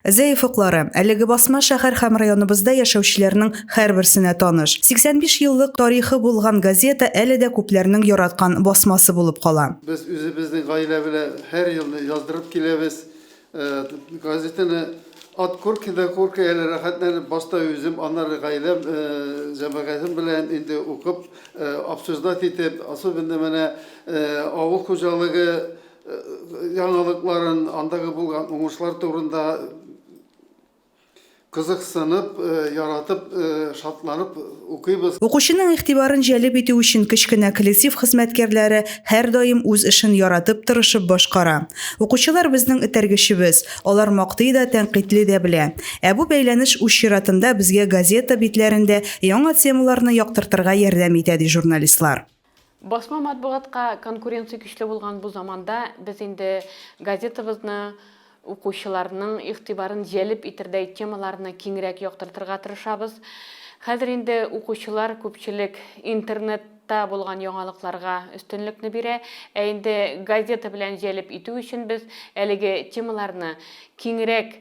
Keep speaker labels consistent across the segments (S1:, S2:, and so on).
S1: Зәеф уклары, әлеге басма шәһәр һәм районыбызда яшәүчеләрнең һәрберсенә таныш. 85 еллык тарихы булган газета әле дә күпләрнең яраткан басмасы булып кала. Без үзебезнең
S2: гаилә белән һәр елны яздырып киләбез. Газетаны ат куркыйда-куркый, әле рәхәтләнеп, башта үзем, аннары гаиләм, җәмәгатем белән инде укып, обсуждать итеп, особенно менә авыл хуҗалыгы яңалыкларын, андагы булган уңышлар турында кызыксынып, яратып, шатланып укыйбыз. Укучының игътибарын
S1: җәлеп итү өчен кечкенә коллектив хезмәткәрләре һәрдаим үз эшен яратып, тырышып башкара. Укучылар безнең этәргечебез, алар мактый да, тәнкыйтьли дә белә. Ә бу бәйләнеш үз чиратында безгә газета битләрендә яңа темаларны яктыртырга ярдәм итә, ди журналистлар. Басма
S3: матбугатка конкуренция көчле булган бу заманда без инде газетабызны укучыларның игътибарын җәлеп итердәй темаларны киңрәк яктыртырга тырышабыз. Хәзер инде укучылар күпчелек интернетта булган яңалыкларга өстенлекне бирә, ә инде газета белән җәлеп итү өчен без әлеге темаларны киңрәк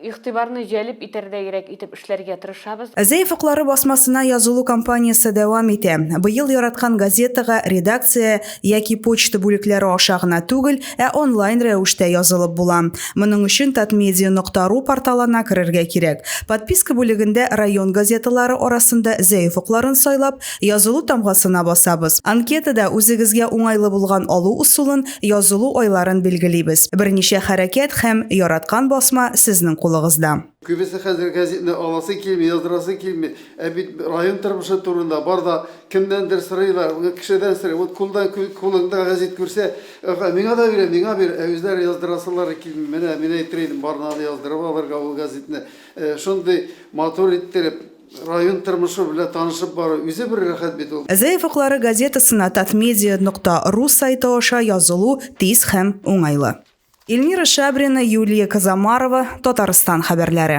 S3: игътибарны җәлеп итәрдәйрәк итеп эшләргә тырышабыз. Зәйф уклары
S1: басмасына язылу кампаниясе дәвам итә. Быел яраткан газетага редакция яки почта бүлекләре аша гына түгел, ә онлайн рәвештә язылып була. Моның өчен Татмедиа нокта ру порталына керергә кирәк. Подписка бүлегендә район газеталары арасында Зәйф укларын сайлап, язылу тамгасына басабыз. Анкетада үзегезгә уңайлы булган алу ысулын Язылу айларын билгелибез. Берничә хәрәкәт һәм яраткан басма сезнең кулыгызда. Күбесе хәзер
S2: гәзитне аласы килми, яздырасы килми. Ә бит район тормышы турында бар да кемнәндер сорыйлар, кешедән сорый. Ул кулдан кулыңда гәзит күрсә, миңа да бир, миңа бир. Ә үзләре яздырасылары килми. Менә мин әйтер идем, барына да яздырып алырга ул гәзитне. Шундый матур иттереп. Район тормышы белән танышып бару үзе бер рәхәт бит ул. Зәеф уклары газетасына
S1: Татмедиа нокта ру сайты аша язылу тиз һәм уңайлы. Эльмира Шабрина, Юлия Козомарова, Татарстан хәбәрләре.